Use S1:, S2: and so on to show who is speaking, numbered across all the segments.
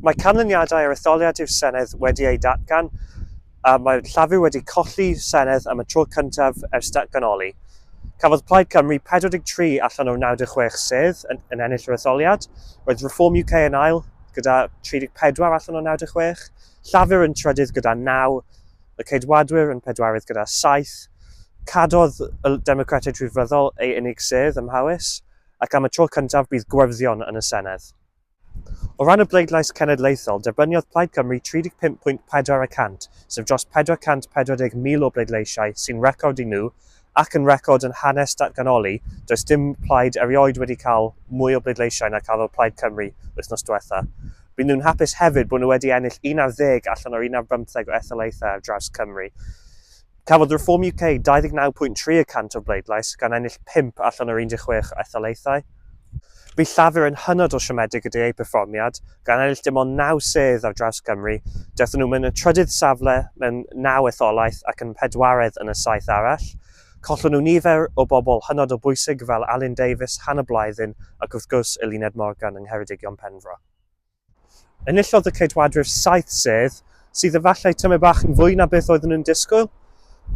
S1: Mae canlyniadau yr etholiad i'r Senedd wedi eu datgan a mae'r Llafur wedi colli Senedd am y tro cyntaf ers datganoli. Cafodd Plaid Cymru 43 allan o'r 96 sedd yn, yn ennill yr etholiad. Roedd Reform UK yn ail gyda 34 allan o 96, Llafur yn trydydd gyda 9, y Ceidwadwyr yn pedwarydd gyda 7, Cadodd y Democratiaid Rhyddfryddol ei unig sedd ym Mhowys, ac am y tro cyntaf bydd Gwyrddion yn y Senedd. O ran y bleidlais cenedlaethol, derbyniodd Plaid Cymru 35.4 y cant, sef dros 440,000 o bleidleisiau, sy'n record i nhw, ac yn record yn hanes datganoli, does dim plaid erioed wedi cael mwy o bleidleisiau na cafodd Plaid Cymru wythnos diwetha'. Bydd nhw'n hapus hefyd bod nhw wedi ennill un ar ddeg allan o'r un ar bymtheg o etholaethau ar draws Cymru. Cafodd Reform UK 29.3 y cant o'r bleidlais, gan ennill pump allan o'r 16 o etholaethau. Bu Llafur yn hynod o siomedig gyda eu perfformiad, gan ennill dim ond naw sedd ar draws Cymru. Daethon nhw mewn y trydydd safle mewn naw etholaeth ac yn pedwaredd yn y saith arall. Collon nhw nifer o bobl hynod o bwysig fel Alun Davies, Hannah Blythyn ac wrth gwrs Eluned Morgan yng Ngheredigion Penfro. Enillodd y Ceidwadwyr saith sedd, sydd efallai tamaid bach yn fwy na beth oeddwn yn disgwyl,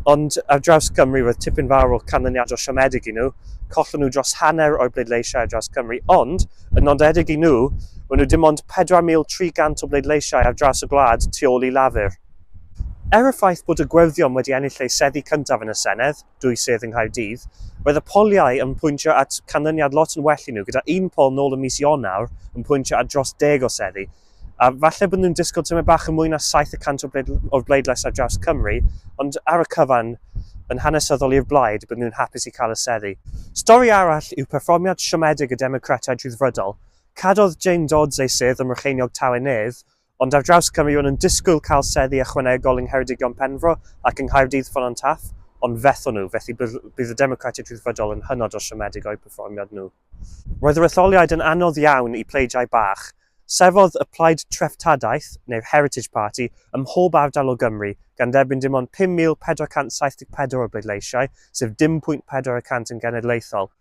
S1: ond ar draws Cymru roedd tipyn fawr o canlyniadau siomedig i nhw, collon nhw dros hanner o'r bleidleisiau ar draws Cymru, ond, yn nodedig i nhw, maen nhw dim ond 4,300 o bleidleisiau ar draws y gwlad tu ôl i Lafur. Er y ffaith bod y Gweddïom wedi ennill eu seddi cyntaf yn y Senedd, dwy sedd yng Nghaerdydd. Roedd y poliau yn pwyntio at canlyniad lot yn well i nhw, gyda un pol nôl ym mis Ionawr yn pwyntio at dros deg o seddi. A falle bod nhw'n disgwyl tymed bach yn mwy na 700 o bleid, o'r bleidlais ar draws Cymru, ond ar y cyfan, yn hanesyddol i'r blaid, bydden nhw'n hapus i cael y seddi. Stori arall yw perfformiad siomedig y Democratiaid Rhyddfrydol. Cadodd Jane Dodds ei sedd ym Mrycheiniog Tawe Nedd, Ond ar draws Cymru ro'n nhw'n disgwyl cael seddi ychwanegol yng Ngheredigion Penfro ac yng Nghaerdydd Ffon An Taf, ond fethon nhw, felly bydd y Democratiaid Rhyddfrydol yn hynod o siomedig o'u perfformiad nhw. Roedd yr etholiad yn anodd iawn i pleidiau bach. Sefydlodd y Plaid Treftadaeth, neu'r Heritage Party, ym mhob ardal o Gymru, gan dderbyn dim ond 5,474 o bleidleisiau, sef 10.4 y cant yn genedlaethol.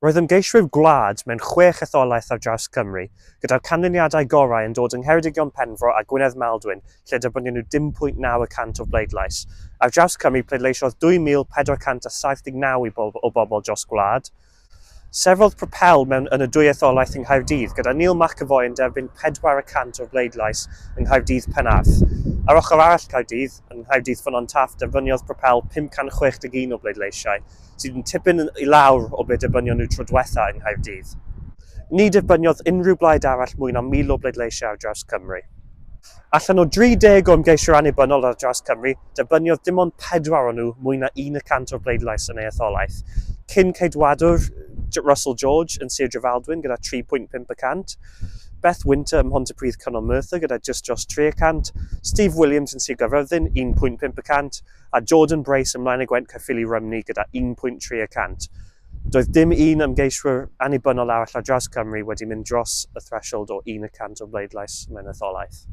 S1: Roedd ymgeiswyr gwlad mewn chwech etholaeth ar draws Cymru, gyda'r canlyniadau gorau yn dod yng Ngheredigion Penfro a Gwynedd Maldwyn lle derbynio nhw 10.9 y cant o bleidlais. Ar draws Cymru pleidleisiodd 2,479 i bobl o bobl dros gwlad. Sefydlodd Propel mewn yn y dwy etholaeth yng Nghaerdydd, gyda Neil McEvoy yn derbyn pedwar y cant o'r bleidlais yng Nghaerdydd Penarth. Ar ochr arall Caerdydd, yng Nghaerdydd Ffynnon Taf derbyniodd Propel 561 o bleidleisiau. sydd yn tipyn i lawr o ble dibynio nhw tro diwetha yng Nghaerdydd. Ni dibyniodd unrhyw blaid arall mwy na 1,000 o bleidleisiau ar draws Cymru. Allan o 30 o ymgeisiwyr annibynnol ar draws Cymru, dibyniodd dim ond pedwar o nhw mwy na un y cant o'r bleidlais yn ei etholaeth. Cyn Ceidwadwr Russell George yn Sir Drefaldwyn gyda 3.5 y cant, Beth Winter ym Mhontypridd Canol Merthyr gyda jyst dros 3 y cant, Steve Williams yn Sir Gaerfyrddin 1.5 y cant, a Jordan Brace ymlaen y Gwent Caerffili Rymni gyda 1 pwynt 3 y cant. Doedd dim un ymgeiswyr annibynnol arall ar draws Cymru wedi mynd dros y threshold o un y cant o bleidlais mewn etholaeth.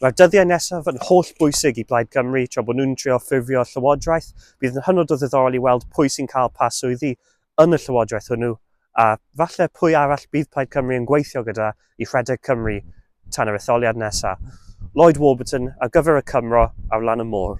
S1: Mae'r dyddiau nesaf yn holl bwysig i Blaid Cymru tra bod nhw'n trio ffurfio llywodraeth. Bydd yn hynod o ddiddorol i weld pwy sy'n cael pa swyddi yn y llywodraeth hwnnw a falle pwy arall bydd Plaid Cymru yn gweithio gyda i rhedeg Cymru tan yr etholiad nesaf. Lloyd Warburton ar gyfer y Cymro ar lan y môr.